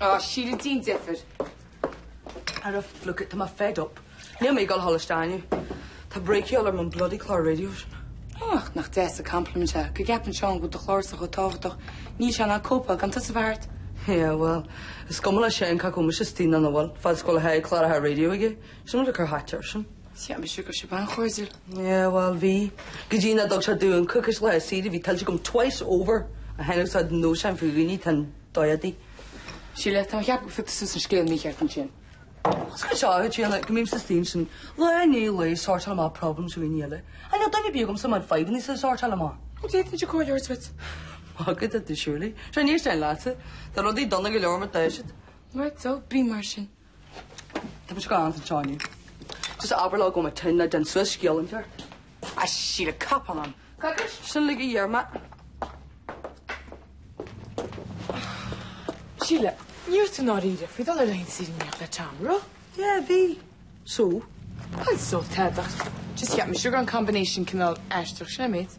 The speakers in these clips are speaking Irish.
Á, Síle, déan deifir! Ara fuck it, tá mé fed up. Níl mé ag dul a dhul isteach inniu. Tá break de dhíobháil orm ón bloody clár raidió sin. Ó, ach nach deas an compliment é. Go gceapann Seán go bhfuil do chlársa chomh tábhachtach, níl sé in ann cóipeáil gan tusa bheith thart. Yeah, well, is cuma le Seán cé acu mise istigh nó nach bhfuil fad is go bhfuil clár le haghaidh raidió aige. Sin rud a cur thaighte air sin. Cheap mise go raibh sibh an-chairdiúil. Yeah, bhuel, bhí. Go dtí nach dtug sé domh coicís saoire a bhí tuillte agam twice over a tháinig usáid an nóis ann faoi dhaoine tá an dóigh di. Síle, tá mé ag ceapadh gur phioc tú suas an scéal mícheart ansin. Is cúis eile a chéile go mbímse istigh ansin, lá i ndiaidh lae ag sortáil amach problems fá choinne daoine eile. Níl duine ar bith agamsa le mo fhadhbannasa a shortáil amach. An bhféadfainnse comhairle a thabhairt duit. D'fhéadfadh tú, surely. Sure ní éisteann éinne leatsa. Tá rudaí dona go leor mar atá siad. Right so, bí mar sin. Tá mé ag dul chun na trá inniu. So just abair leo go bhfuil mé tinn nó déan suas scéal inteacht. A Sheila, cop on. Coicís. Sin uilig a d'iarr mé. Sheila, ní raibh tú i ndáiríre faoi dhul ar laethanta saoire in éineacht le Tom, raibh? Yeah, bhí. So? Well, so tada, ach just cheap mise go raibh an combination cineál aisteach, sin an méid.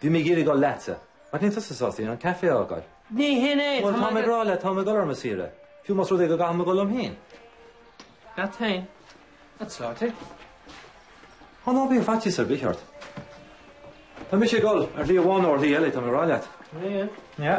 Bhí mé ag iarraidh dul leatsa, ach níl tusa sásta an caife a fhágáil. Ní hin é! Bhuel, táim ag rá leat, táim ag dul ar mo shaoire, fiú más rud é go gcaithfidh mé a dhul liom féin. Leat féin? An tsaoirte? Ó, ná bíodh faitíos ar bith ort. Tá mise ag dul, ar shlí amháin nó ar shlí eile, táim ag rá leat. An é? An ea?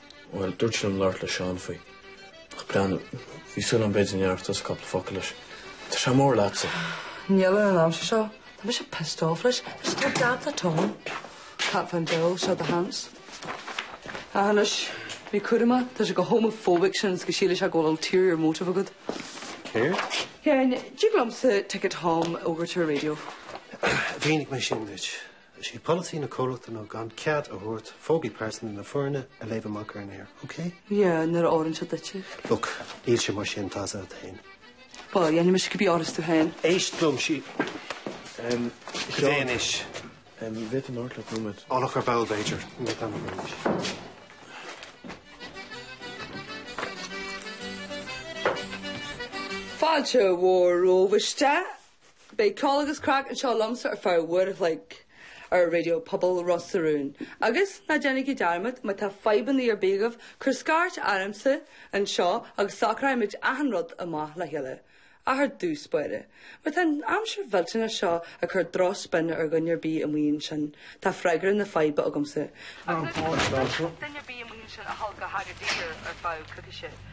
Bhuel, dúirt sí liom labhairt le Seán faoi. Ach breathnú, bhí súil agam b'fhéidir go ndéarfadh tusa cúpla focal leis. Tá sé mór leatsa. Níl ar an aimsir seo. Tá mise pissed off leis. Tá sé tár déanta, Tom. Can't find Bill, said the hands. Ach anois, bí cúramach, tá sé chomh homophobic sin is go sílfidh sé go bhfuil ulterior motive agat. Céard? Yeah, an dtig liomsa ticket Tom a fhógairt ar an raidió? Mhínigh mé sin duit. Is í polasaí na comhlachta ná gan cead a thabhairt fógraí pearsanta na foirne a léamh amach ar an aer, okay? Yeah, nuair a fhóireann sé duit. Look, níl sé mar sin, tá saghas féin. Bhuel, déanfaidh mise cibé áthas tú féin. Éist liom, Síle. Em, Seán. Cad é anois? Em, an bhféadfainn labhairt leat nóiméad. Ó, ar ball, b'fhéidir. Níl an t-am agam anois. Fáilte mhór romhaibh isteach, Beidh ceol agus craic anseo liomsa ar feadh uair a chloig ar Raidió Pobail Ros na Rún. Agus ná déanaigí dearmad, má tá fadhbanna ar bith agaibh, cuir scairt ormsa anseo agus socróimid achan rud amach le chéile, ach ar dtús báire. Má tá an aimsir mhillteanach seo ag cur drochspionn ar dhuine ar bith amuigh ansin, tá freagra na faidhbe agamsa. Agus is féidir duine ar bith amuigh ansin a dhul go hAgadir ar feadh coicíse.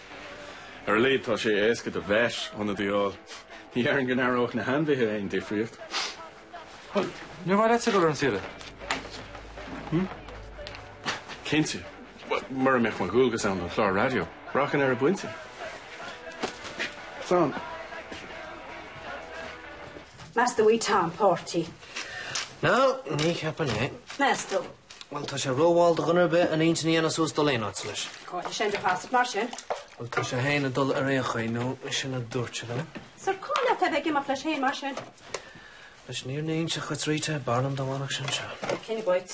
Ar a laghad tá sé éasca do vet ionad a fháil. Ní déarfainn go n-aireodh na hainmhithe aon difríocht. Bhuel, nár mhaith leatsa dul ar saoire, hm? Cinnte. Mura mbeadh mo dhualgas ann don chlár raidió, rachainn ar an bpointe. San. Meas tú í Tom Páirtí? No, ní cheapfainn é. Meas tú? Bhuel, tá sé rómhall do dhuine ar bith an intinn a dhéanamh suas dul aon áit leis. Cáineadh sé do Shasat mar sin. Bhuel, tá sé fhéin ag dul ar aon chaoi, nó sin a dúirt sé liom. Sure, cá leat é a bheith ag imeacht leis fhéin mar sin? Anois, níor níonn sé chuit Rita, b'fhearr liom dá bhfanfadh sé anseo. Cén bhoit?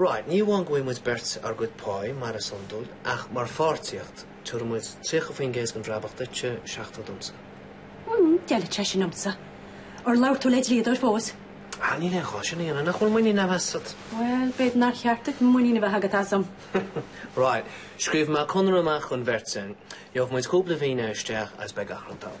Right, ní amháin go bhfaighidh muid beirt ár gcuid páí, mar is iondúil, ach mar pháirtíocht, tiubhra muid 30% den bhrabach duitse, 70 domsa. Mmm, d'fheilfeadh sé sin dhomsa. Ar labhair tú le dlíodóir fós? Ah, níl aon ghá sin a dhéanamh, nach bhfuil muinín a'm asat? Bhuel, b'fhéidir nár cheart duit muinín a bheith agat asam. Right, scríobhfaidh mé conradh amach dhon bheirt againn, gheobhaidh muid cúpla finné isteach agus beidh gach rud thall.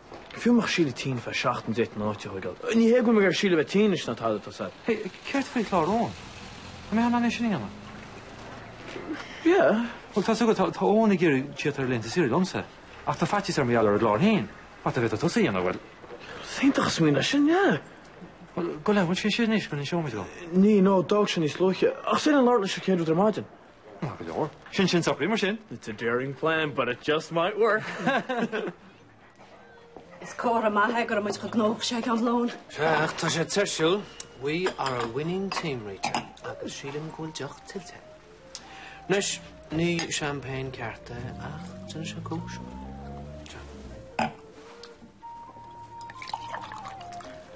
Fiú nach Síle tinn fé seachtain d'ith an áit a thoigeadh. Ní hé go bhfuil mé ag iarraidh Síle a bheith tinn ná tada, tá's agat. Hey, céard faoi chlár Eoin? Tá mé in ann é sin a dhéanamh. Yeah. Bhuel, tá's agat, tá, tá Eoin ag iarraidh tíocht ar laethanta saoire liomsa. Ach tá faitíos air mar gheall ar an gclár féin. But dá mbeadh tusa á dhéanamh, bhuel. Is iontach an smaoineamh é sin, yeah. Bhuel, gabh i leith, an bhfuil sé thiar anois, go n-inseoidh muid dhó. Níl, no, d'fhág sé níos luaithe. Ach in ann labhairt leis an chéad rud ar maidin. No, go leor. Sin, sin socraithe mar sin. It's a daring plan, but it just might work. Is comhartha maith é go raibh muid chomh gnóthach sin ag am lóin. Sea, ach tá sé tuirsiúil. We are a winning team, Rita, agus sílim go bhfuil deoch tuillte. Anois, ní champagne ceart é ach déanfaidh sé cúis.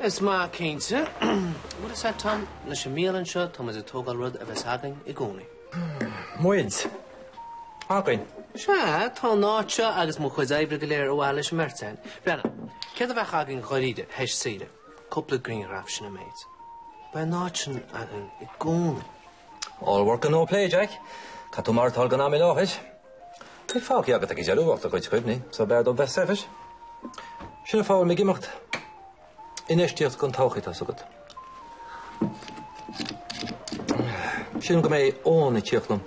Is maith cinnte. What is that, Tom? Leis an mbialann seo, tá muid ag tógáil rud a bheas againn i gcónaí. Muid? Againn? Sea, tá an áit seo agus mo chuid oibre go léir ar mhaithe leis an mbeirt againn. Brennan, céard a bheadh againn dháiríre, théis saoire? Cúpla grianghraf, sin an méid. Beidh an áit sin againn i gcónaí. All work and no play, Jack. Caithfidh tú maireachtáil don am i láthair. Ní bheidh fágtha agat ag deireadh ach do chuid cuimhní, so b'fhearr dom bheith saibhir. Sin an fáth a bhfuil mé ag imeacht. Infheistíocht don todhchaí, tá 's agat. Sílim go mbeidh Eoin ag tíocht liom.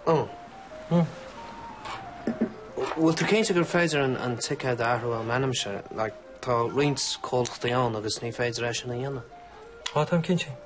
Oh. Hmm. Bhfuil tú cinnte gur féidir an ticéad a athrú i m'ainmse, like, tá roinnt comhlachtaí ann agus ní féidir é sin a dhéanamh. Tá, táim cinnte.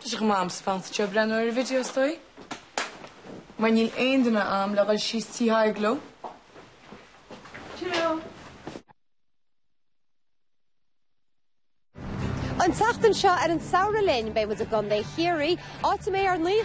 Tá sé chomh maith agamsa fanacht anseo breathnú ar an video is dóigh, mar níl aon duine agam le dhul síos Tigh Thaidhg leo. Cheerio! An tseachtain seo ar an Samhradh Linn, beidh muid i gContae Chiarraí, áit a mbeidh ár n-aoi.